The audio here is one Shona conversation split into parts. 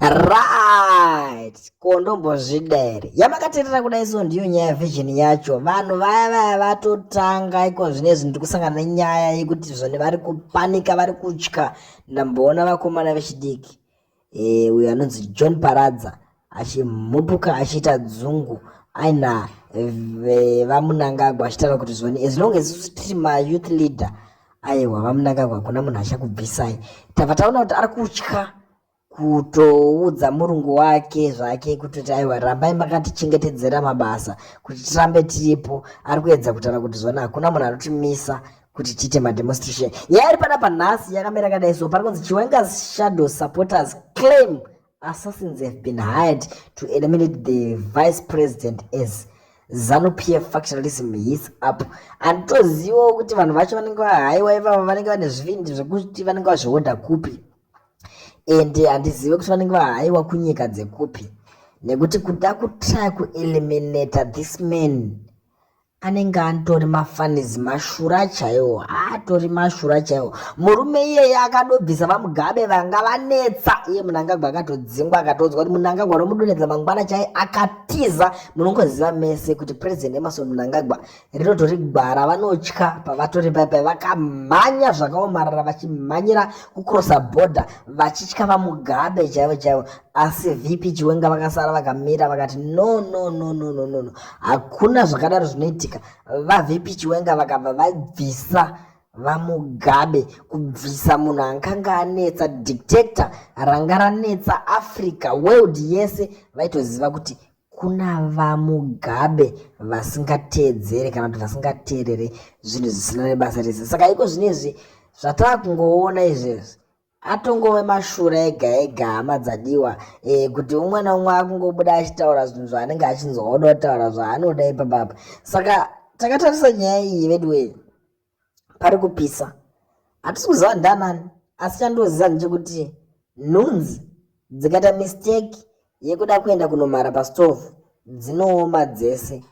Right, ko ndombozvida here yamakaterera kudai so ndiyo nyaya vision yacho vanhu vaya vaya vatotanga iko zvine zvinhu tiri kusangana nenyaya yekuti zvone vari kupanika vari kutya ndamboona vakomana vechidiki e, uyo anonzi john paradza achimhupuka achiita dzungu aina vamunangagwa achitaura kuti zvoni as long as tiri mayouth leader aiwa vamunangagwa hakuna munhu achakubvisai tava taona kuti ari kutya kutoudza murungu wake zvake kutoti aiwa rambai makatichengetedzera mabasa kuti tirambe tiripo ari kuedza kutaura kuti zvona hakuna munhu anotimisa kuti tiite mademonstration nyaya iri panapa nhasi yakamira kadai so pari kunzi chiwengas shadow supporters claim Assassins have been hired to eliminate the vice president as zanu pf factionalism his up handitozivawo kuti vanhu vacho vanenge vahaiwa ivavo vanenge vane zvivindi zvekuti vanenge vazvihodha kupi and handizive kuti vanenge vahaiwa kunyika dzekupi nekuti kuda kutrya kueliminata this man anenge atori mafanizi mashura chaiwo atori mashura chaiwo murume iyeye akadobvisa vamugabe vanga vanetsa iye munangagwa akatodzingwa akatodzwa kuti munangagwa romudonedza mangwana chai akatiza munongoziva mese kuti president emerson munangagwa rinotori gwara vanotya pavatori paipa vakamhanya zvakaomarara vachimhanyira kucrossa border vachitya vamugabe chaivo chaivo asi vp chiwenga vakasara vakamira vakati no no no no no no no hakuna zvakadaro zvinoitika vavp chiwenga vakabva vabvisa vamugabe kubvisa munhu ankanga anetsa dictator ranga ranetsa africa world yese vaitoziva kuti kuna vamugabe vasingateedzere kana kuti vasingateerere zvinhu zvisina nebasa rese saka iko zvino izvi zvatava kungoona izvezvi atongove mashura ega ega hama dzadiwa e, kuti umwe naumwe akungobuda achitaura zvinhu zvaanenge achinzwa oda kutaura zvaanoda ipapapa saka takatarisa nyaya iyi veduwei pari kupisa hatisi kuziva ndanani asi chandoziva ndechekuti nhunzi dzikaita mistake yekuda kuenda kunomara pastove dzinooma dzese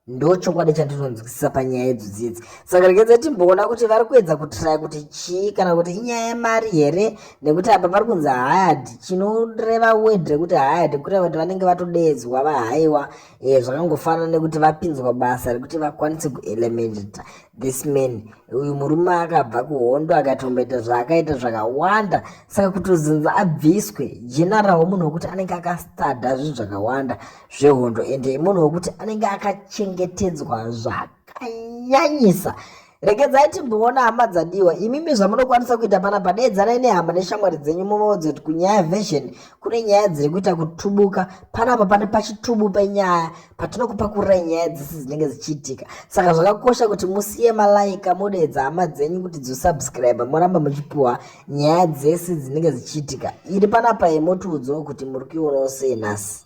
ndochokwadi chandinonzwisisa panyaya idzo dziedzi saka rekedza timboona kuti vari kuedza kutraya kuti chii kana kuti inyaya yemari here nekuti apa pari kunzi hayad chinoreva word rekuti hayad kureva kuti vanenge vatodeedzwa vahaiwa e, zvakangofanana nekuti vapinzwa basa rekuti vakwanise kuelemenita This man uyu murume akabva kuhondo akatomboita zvaakaita zvakawanda saka kutozinza abviswe jenarawo munhu wekuti anenge akastada zvinhu zvakawanda zvehondo ende munhu wekuti anenge akachengetedzwa zvakanyanyisa regedzai timboona hama dzadiwa imimi zvamunokwanisa kuita pana padedzanai nehama neshamwari dzenyu muvaudze kuti kunyaya version kune nyaya dziri kuita kutubuka panapa pane pachitubu penyaya patinokupa kurira nyaya dzese dzinenge dzichiitika saka zvakakosha kuti musiye malaika modeedza hama dzenyu kuti dzosubscribe moramba muchipiwa nyaya dzese dzinenge dzichiitika iri panapa yemotiudzawo kuti muri kuionawo sei nhasi